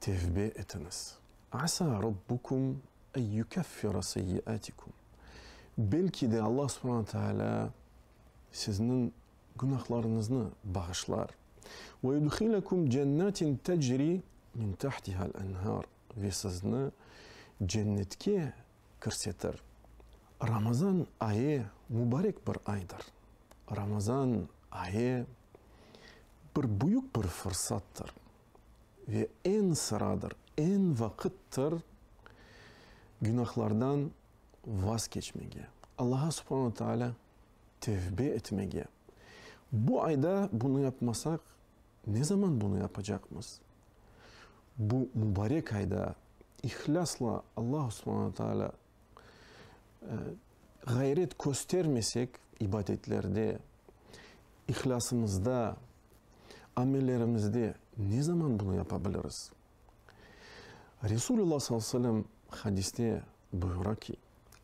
Tevbe etiñiz. Asa Rabbukum ey yükeffira seyyiatikum. Belki de, Alla subhana taalâ sizniñ günahlarıñıznı bağışlar. Ve yudhilekum cennatin tecri min tahtihal enhar. Ve sizni cennetke kirsetir. Ramazan ayı mubarek bir aydır. Ramazan ayı bir büyük bir fırsattır. ve eñ sıradır, eñ vaqıttır günahlardan vaz keçmege, Allağa subhana ve taalâ tevbe etmege. Bu ayda bunı yapmasaq, ne zaman bunı yapacaqmız? Bu mubarek ayda ihlâsla Allağa subhana ve taalâ Ğayret köstermesek ibadetlerde, ihlâsımızda, amellerimizde ne zaman bunı yapa biliriz? Resulullah sallallahu aleyhi ve sellem hadiste buyura ki,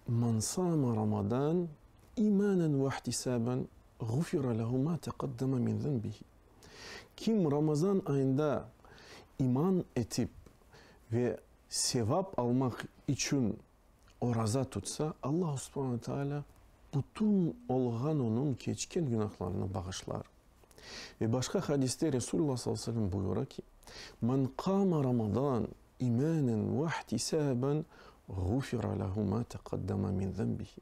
Men sâme Ramadan imânen ve ihtisâben ğufira lehu mâ teqaddeme min zenbihi. Kim Ramazan ayında iman etip ve sevap almaq içün oraza tutsa, Alla subhane ve teala bütün olğan onıñ keçken günahlarını bağışlar. Ve başqa hadiste Resulullah sallallahu aleyhi ve sellem buyura ki, Men qâme Ramadan imânen ve'htisâben ğufira lehu mâ teqaddeme min zenbihi.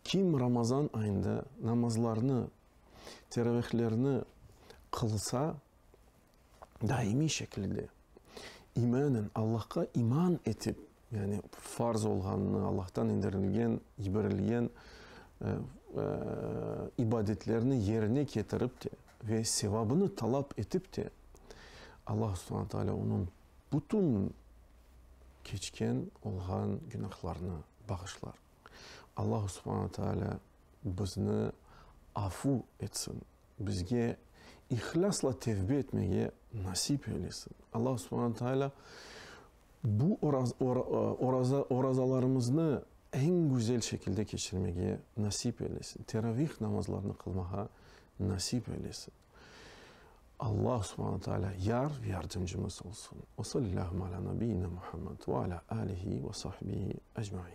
Kim Ramazan ayında namazlarnı, teravihlerni qılsa, daimiy şekilde imanen Allahqa iman etip, yani farz olğanını, Allahtan indirilgen, yiberilgen ibadetlerni yerine ketirip de ve sevabını talap etip de, Allah subhane taala onıñ bütün keçken olğan günahlarını bağışlar. Allah subhane taala bizni afu etsin! Bizge ihlâsla tevbe etmege nasip eylesin. Alla Subhane Teala bu orazalarımıznı eñ güzel şekilde keçirmege nasip eylesin. Teravih namazlarını qılmağa nasip eylesin. Alla Subhane Teala yar ve yardımcımız olsun. Ve sallâhu alâ nabiyyina Muhammed ve alâ alihi ve sahbihi ecmain.